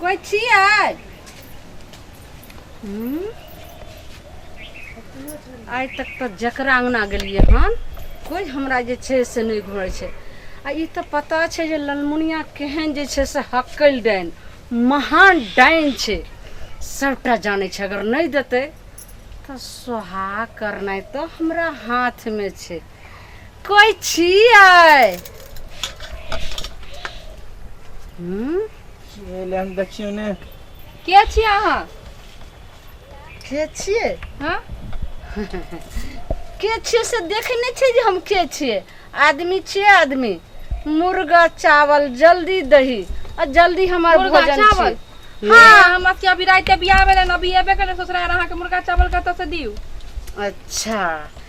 कोइ छियै हूँ? आइ तक तऽ जकरा अङ्गना गेलियै हन कोइ हमरा जे छै से नहि घुरै छै आ ई तऽ पता छै जे ललमुनिया केहन जे छै से हकल डाइन महान डाइन छै सभटा जानै छै अगर नहि देतै तऽ सोहा करनाइ तऽ हमरा हाथमे छै कोई छियै हम्म? एले हम देखियो ने के छियै अहाँ के छियै हाँ के छियै से देखे नहि छै जे हम के छियै आदमी छियै आदमी मुर्गा चावल जल्दी दही आ जल्दी हमर मुर्गा भोजन चावल छियै। हाँ हमरा के अभी राते बियाह भेलै अभी एबे केलै ससुराल अहाँके मुर्गा चावल कतऽ से दियू अच्छा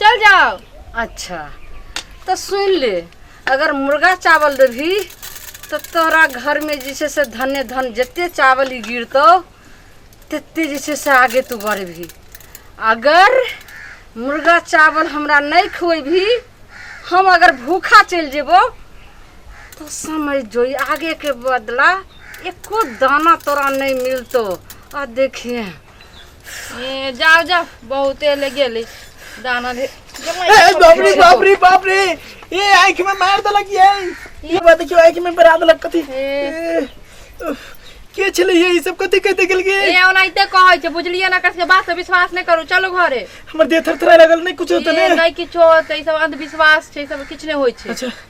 चल जाओ अच्छा तो सुन ले अगर मुर्गा चावल देबही तो तोरा घर में जे छै से धन्य धन जते चावल ही गिरतौ तते जे छै से आगे तू बढ़बही अगर मुर्गा चावल हमरा नहीं खुएबही हम अगर भूखा चल जेबो तो समझ जो आगे के बदला एको दाना तोरा नहीं मिलतो आ देखिए ए जाओ जाओ बहुते ले गेली दाना दे ए, बाप रे बाप रे बाप रे ए आंख में मार देलक ये ये बात क्यों आंख में बरा देलक कथी ए। ए, उफ, के छले ये ई सब कथी कहते गेल गे ए ओनाइते कहै छै बुझलिए ना कसके बात से विश्वास नहीं करू चलो घरे हमर देह थरथराय लागल नहीं कुछ होते ए ने नहीं किछो होतै ई सब अंधविश्वास छै ई सब किछु नहि होइ छै अच्छा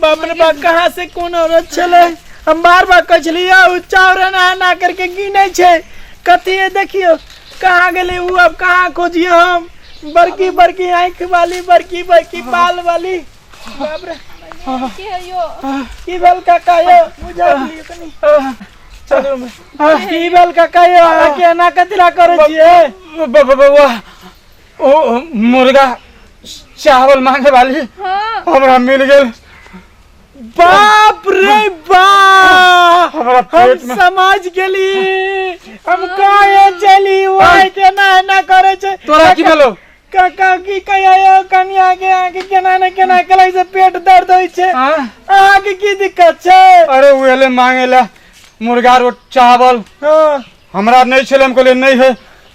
बाप रे बाप कहाँ से कोन औरत छलै हम बार बार कहै छलियै ओ चाउर एना एना करके गिनै छै कथी है देखियो कहाँ गेलै ओ अब कहाँ खोजियो हम बड़की बड़की आँखि वाली बड़की बड़की बाल वाली बाप रे के है यो की भेल काका यो बुझा दिलियो कनी चलो में की भेल काका यो अहाँ के एना कथी ला करै छियै बाबा बाबा ओ मुर्गा चावल मांगे वाली हाँ हमरा मिल गेल बाप रे बाप हमरा हम पेट में समझ गेली हम काहे चली ओए के ना ना करे छै तोरा की भेलो काका की कहिया यो कनिया के आके केना ने केना कलै से पेट दर्द होइ छै हाँ? अहाँ के की दिक्कत छै अरे उ एले मांगे ला मुर्गा रोट चावल हाँ हमरा नहीं छले हम कहले नहीं है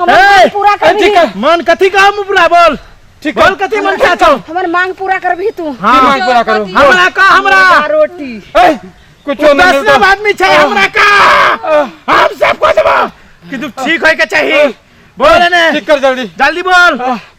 हमर ए, मांग पूरा ए, करबी ठीक है। मन कथी का हम पूरा बोल ठीक बोल कथी मन क्या छौ हमर मांग पूरा करबी तू हाँ मांग पूरा करू हमरा का हमरा रोटी ए, कुछो नहीं दस मिलतो आदमी छै हमरा का हम सब को देबो कि तू ठीक होय के चाहिए बोल ने ठीक कर जल्दी जल्दी बोल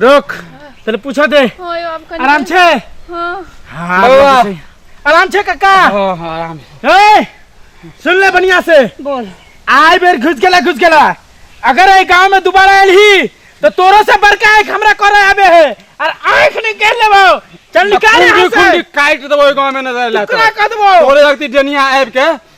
रोक तले पूछा दे होय अब कनी आराम छे हां हाँ, बउआ। आराम छे। आराम छे काका हाँ हाँ आराम ए सुन ले बढ़िया से बोल आए बेर घुस गेला घुस गेला अगर ए गांव में दोबारा आयल ही तो तोरो से बड़का एक हमरा करे आबे है और आंख नहीं कर लेबो चल निकाल खुंडी यहाँ से खुंडी काट देबो गांव में नजर ला टुकड़ा कर देबो तोरे लगती डनिया आबि के